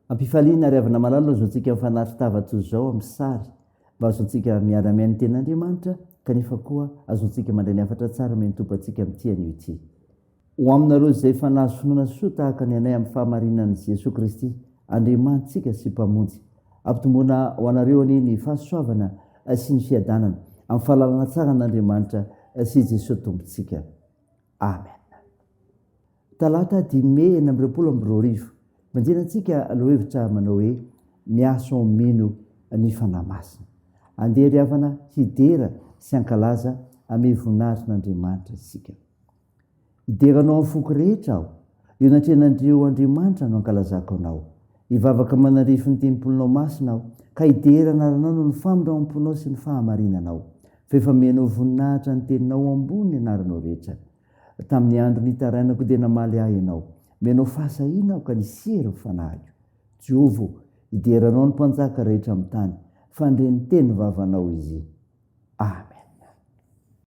Ampifaliana ary avy namalalina izao tsika mifanaritra tava toy izao amin'ny sary mba ahazoantsika miara mihaino ny tenin'Andriamanitra kanefa koa ahazoantsika mandray ny hafatra tsara omeny Tompo antsika amin'ity anio ity. Ho aminareo izay efa nahazo finoana soa tahaka ny anay amin'ny fahamarinan'i Jesoa Kristy, Andriamanitsika sy Mpamonjy. Ampitomboina ho anareo anie ny fahasoavana sy ny fiadanana, amin'ny fahalalana tsara an'Andriamanitra sy i Jesoa Tompontsika. Amen. Talata dimy Mey enina amby roapolo amby roa arivo, Manjena antsika lohahevitra manao hoe Miasa ho mino ny Fanahy Masina. Andeha ry havana hidera sy hankalaza amin'ny voninahitrin'Andriamanitra isika. Hidera anao amin'ny foko rehetra aho. Eo anatrehan'ireo andriamanitra no ankalazako anao. Hivavaka manandrify ny tempolinao masina aho, ka hidera anaranao noho ny famindramam-ponao sy ny fahamarinanao. Fa efa mihaino voninahitra ny teninao ambony ny anaranao rehetra. Tamin'ny andro nitarainako dia namaly ahy ianao. Mihaino fahasahiana aho ka nisy hery ny fanahiko. Jehovah ô, hidera anao ny mpanjaka rehetra amin'ny tany, fa handre ny tenim-vavanao izy. Amen.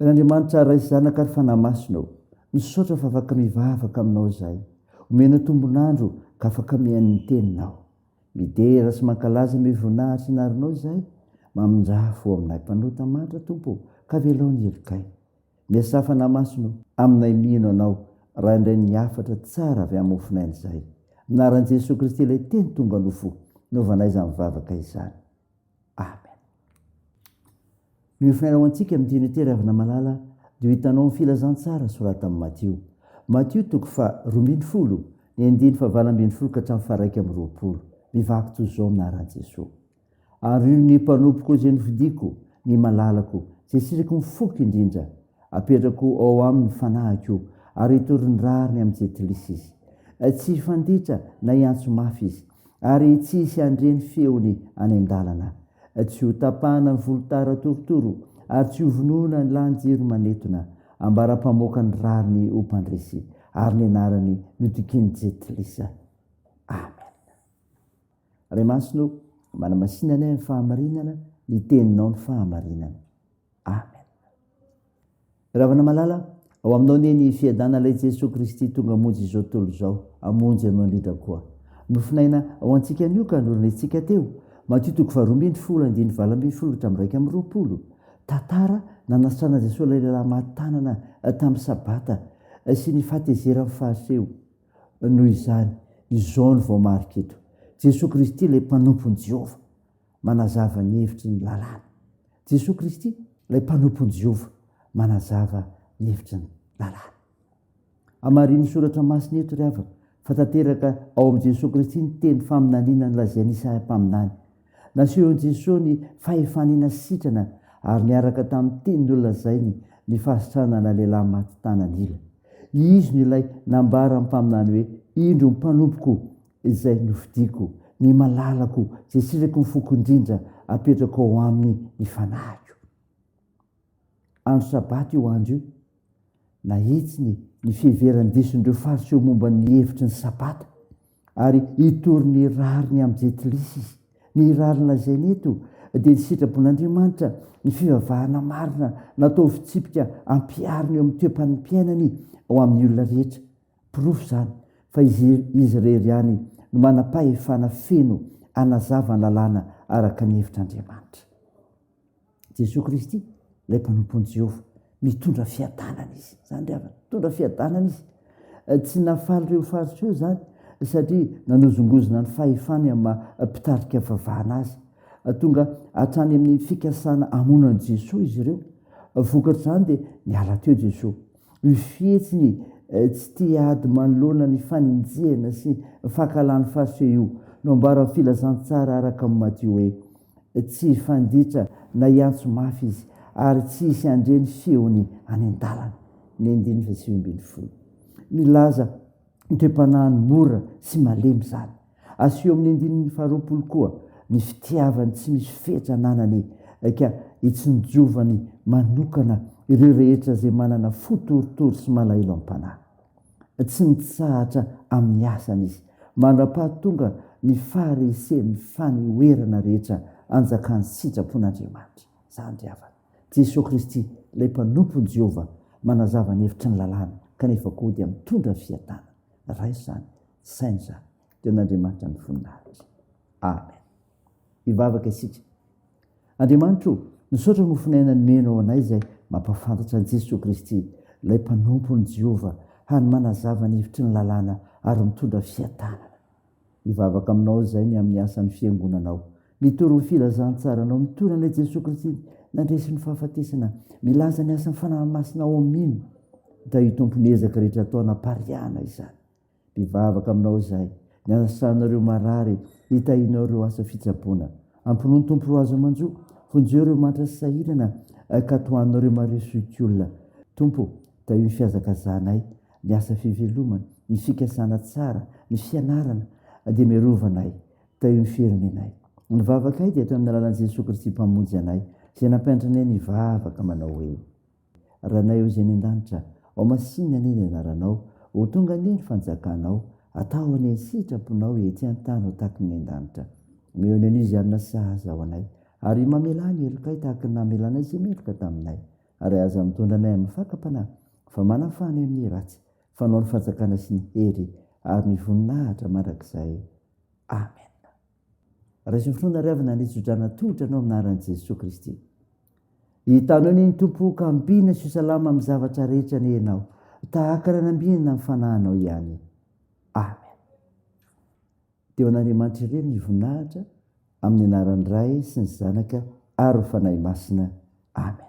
Ry Andriamanitra Ray sy Zanaka ary Fanahy Masina ô, misaotra fa afaka mivavaka aminao izahay, omena tombon'andro ka afaka mihaino ny teninao. Midera sy mankalaza ny hoe voninahitry ny arinao izahay, mamindrafo aminay mpanota mantra Tompo ô, ka avelao ny helokay. Miasà Fanahy Masina ô, aminay mino anao raha indray ny hafatra tsara avy amin'ny mofon'aina izahay. Amin'ny anaran'i Jesoa Kristy ilay Teny tonga nofo, naovanay izany vavaka izany. Amen. Noho ny fanarahontsika amin'ny teny ity ravina malala dia hitanao ny filazantsara soratan'i Matio. Matio toko fa rombin'ny folo, ny andiny fa valo ambin'ny folo ka hatramin'ny faraika amin'ny roapolo. Mivaky toy izao ny naran'i Jesoa. Ario ny mpanompoko izay nofidiko, ny malalako, izay siriko mifoky indrindra. Apetrako ao aminy ny fanahiko ary hitory ny rariny amin'ny jentilisa izy. Tsy hifanditra na hiantso mafy izy. ary tsy hisy handre ny feony any an-dalana. Tsy ho tapahana ny volotara torotoro, ary tsy ho vonoina ny lahan-jiro manetona. Ambara mpamoaka ny rariny ho mpandresy, ary ny anarany no dikin'ny Jentilisa. Amena. Ray Masina ô, manamasina anay amin'ny fahamarinana, ny Teninao ny fahamarinana. Amen. Ravanamalala, ao aminao anie ny fiadana lay Jesoa Kristy tonga hamonjy izao tontolo izao, hamonjy anao indrindra koa. Nofonaina ao antsika anio ka norenentsika teo. Matio toko faharoa ambin'ny folo andininy valo ambin'ny folo hatramin'ny iraika amby roapolo. Tantara nanasitranan'i Jesoa ilay lehilahy maty tanana eh, tamin'ny sabata eh, sy ny fahatezeran'ny Fariseo. Noho izany, izao no voamarika eto. Jesoa Kristy ilay mpanompon'i Jehovah. Manazava ny hevitry ny lalàna. Jesoa Kristy, ilay mpanompon'i Jehovah, manazava ny hevitry ny lalàna. Hamarinin'ny Soratra Masina eto, ry havana, fa tanteraka ao amin'i Jesoa Kristy ny teny faminaniana nolazain'i Isaia mpaminany. Nasehon'i Jesoa ny fahefany nasitrana ary niaraka tamin'ny teny nolazainy ny fahasitranana lehilahy maty tanan'ila. Izy no ilay nambaran'ny mpaminany hoe, Indro ny mpanompoko, izay nofidiako, ny malalako izay sirako ny foko indrindra apetrako ao aminy ny fanahiko. Andro sabata io andro io, nahitsiny ny fiheveran-dison'ireo Fariseo momba ny hevitry ny sabata, ary hitory ny rariny amin'ny Jentilisa izy. Ny rariny lazainy eto dia ny sitrapon'Andriamanitra, ny fivavahana marina natao ho fitsipika ampihariny eo amin'ny toe-panimpiainany ao amin'ny olona rehetra. Porofo izany fa izy irery ihany no manam-pahefana feno hanazava ny lalàna araka ny hevitr'Andriamanitra. Jesoa Kristy, ilay mpanompon'i Jehovah, mitondra fiadanana izy. Izany ry havana, mitondra fiadanana izy. Tsy nahafaly ireo Fariseo izany, satria nanozongozona ny fahefany amin'ny maha mpitarika vavahana azy. Tonga hatrany amin'ny fikasana hamono an'i Jesoa izy ireo. Vokatr'izany dia niala teo Jesoa. Ny fihetsiny tsy tia ady manoloana ny faninjihana sy fankahalàny fariseo io no ambaran'ny Filazantsara araka amin'i Matio hoe, Tsy hifanditra na hiantso mafy izy, ary tsy hisy handre ny feony any an-dalana. Ny andininy fahasivy ambin'ny folo milaza ny toe-panahiny mora sy malemy izany. Aseho amin'ny andininy faharoapolo koa ny fitiavany tsy misy fetra ananany ka itsinjovany manokana ireo rehetra izay manana fo torotoro sy malahelo am-panahy. Tsy mitsahatra amin'ny asany izy. Mandra-pahatonga ny faharesen'ny fanehoerana rehetra anjakan'ny sitrapon'Andriamanitra. Zandry havana. Jesoa Kristy, ilay mpanompon'i Jehovah, manazava ny hevitry ny Lalàna, kanefa koa dia mitondra fiadanana. Raha izany, tsy saina izany. Dia an'Andriamanitra ny voninahitra. Amen. Hivavaka isika. Andriamanitra o, misaotra nofo naina nomenao anay izay mampahafantatra an'i Jesoa Kristy, ilay mpanompon'i Jehovah, hany manazava ny hevitry ny Lalàna ary mitondra fiadanana. Mivavaka aminao izay ny amin'ny asan'ny Fiangonanao. Mitory ny filazantsaranao. Mitory an'ilay Jesoa Kristy nandresy ny fahafatesana. Milaza ny asan'ny Fanahy Masina ao aminy. Tahio Tompo ny ezaka rehetra atao hanapariahana izany. Mivavaka aminao izay ny anasanao ireo marary, hitahianao ireo asa fitsaboana. Ampinono Tompo ireo azo aman-jo. Vonjeo ireo mantra sy sahirana ka tohananao ireo maresoikiolona. Tompo, tahio ny fihazakazahanay ny asa fivelomana, ny fikasana tsara, ny fianarana dia miarova anay, teo ny firenenay. Ny vavakay dia teo amin'ny alalan'i Jesoa Kristy Mpamonjy anay, izay nampianatra anay ny hivavaka manao hoe, Ranay ao izay any an-danitra, ao masinina anie ny anaranao, ho tonga anie ny fanjakanao, atao anie ny sitraponao ety an-tany ho tahaky ny an-danitra. Mihaona an'io izay hanina sahaza ho anay, ary mamelà ny helokay tahaky ny namelanay izay meloka taminay. ary aza mitondra anay amin'ny fakam-panahy, fa manafana anay amin'ny ratsy, fanao ny fanjakana sy ny hery ary ny voninahitra mandrakizay. Amena. Raiso ny finoana ry havana, ny tso-drano atolotra anao amin'ny anaran'i Jesoa Kristy. Hitanao ny Tompo ho kambiana sy ho salama amin'ny zavatra rehetra ny ianao, tahaka ny anambinina amin'ny fanahinao ihany. Amena. Dia ho an'Andriamanitra irery ny voninahitra amin'ny anaran'ny Ray sy ny Zanaka ary ny Fanahy Masina. Amen.